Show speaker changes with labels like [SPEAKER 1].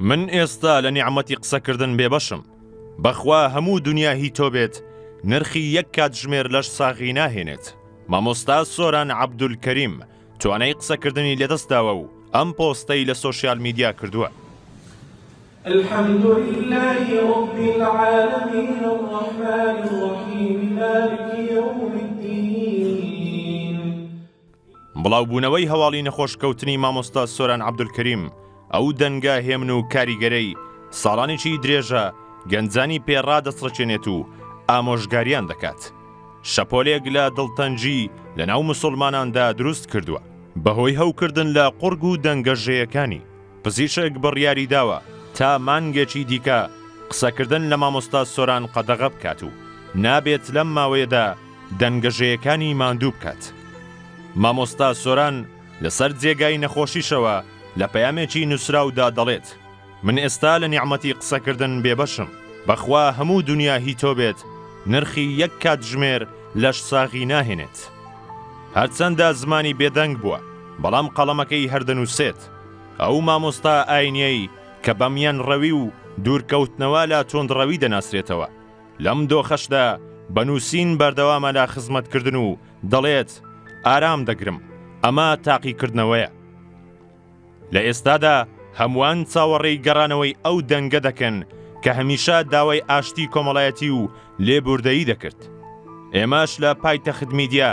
[SPEAKER 1] من ئێستا لە نیعممەتی قسەکردن بێبەشم بەخوا هەموو دنیا هی تۆ بێت نرخی یەک کاتژمێر لەش ساغی ناهێنێت مامۆستا سۆران عبدول کەریم توانای قسەکردنی لەدەستداوە و ئەم پۆستەی لە سۆسیال میدیا کردووە الحمد لله رب العالمين
[SPEAKER 2] الرحمن الرحيم مالك يوم الدين
[SPEAKER 1] بڵاوبوونەوەی هەواڵی نەخۆش کەوتنی مامۆستا سۆران عەبدولکەریم، ئەو دەنگە هێمن و کاریگەرەی ساڵانێکی درێژە گەنجانی پێ ڕادەسڕکێنێت و ئامۆژگاریان دەکات، شەپۆلێک لە دڵتەنگی لە ناو موسوڵماناندا دروست کردووە. بە هۆی هەوکردن لە قوڕگ و دەنگە ژێیەکانی، پزیشک بڕیاری داوە تا مانگێکی دیکە قسەکردن لە مامۆستا سۆران قەدەغە بکات و نابێت لەم ماوەیەدا، دەنگەژەیەکانی ماندوو بکات. مامۆستا سۆران لەسەر جێگای نەخۆشیشەوە لە پەیامێکی نووسراودا دەڵێت، من ئێستا لە نیعمەتی قسەکردن بێبەشم، بەخوا هەموو دونیا هی تۆ بێت، نرخی یەک کاتژمێر لەشساغی ناهێنێت. هەرچەندە زمانی بێدەنگ بووە، بەڵام قەڵەمەکەی هەر دەنووسێت. ئەو مامۆستا ئاینیەی کە بە میانڕەوی و دوورکەوتنەوە لە توندڕەوی دەناسرێتەوە. لەم دۆخەشدا بە نووسین بەردەوامە لە خزمەتکردن و دەڵێت، ئارام دەگرم، ئەمە تاقیکردنەوەیە. لە ئێستادا هەمووان چاوەڕێی گەڕانەوەی ئەو دەنگە دەکەن کە هەمیشە داوای ئاشتی کۆمەڵایەتی و لێبووردەیی دەکرد. ئێمەش لە پایتەخت میدیا،